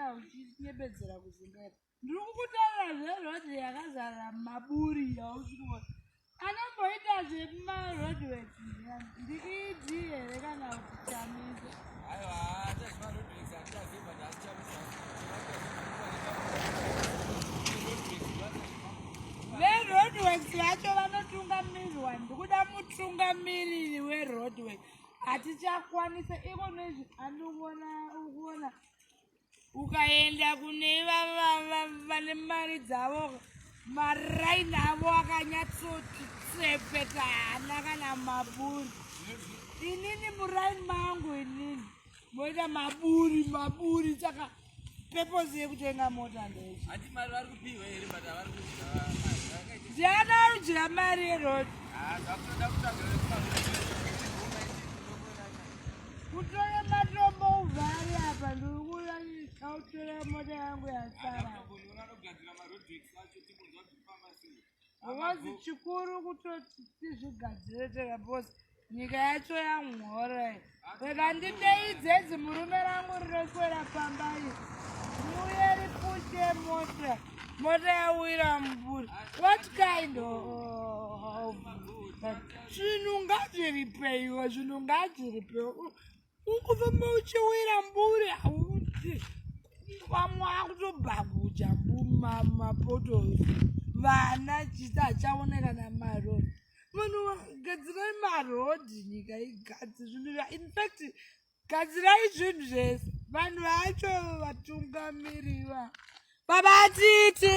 ndauchinyebedzera kuzimbaira ndiri kukutaura zverodhi yakazara maburi yausikuona anomboita zvemarodwet ndikidii here kana kuti chamisa veroadworks vacho vanotungamirwa ndikuda mutungamiriri weroadwork hatichakwanisa iko nezvi andiona ukuona ukaenda kune vane mari dzavo maraini avo akanyatsoti tsepeta hana kana maburi inini muraini mangu inini moita maburi maburi saka peposi yekutenga mota ndeyakadya mari yerodi Kutore matombo uvhari apa ndikuda ndikautora mota yangu yasara. Ngozi chikuru kutoti tizvigadzire tega bosi nyika yacho yamhora rega nditeidze idzi murume rangu rinoswera pamba iri muye ripushe mota mota yawira muburi what kind of zvinhu ngazviripeiwo zvinhu ngazviripeiwo ukufamba uchiwira mbure hauti vamwe akutobhaguja mumapoto vana chisi achaoneka namarod munhu gadzirai marod nyika igadzi zvinhu infact gadzirai zvinhu zvese vanhu vacho vatungamiriva babatiti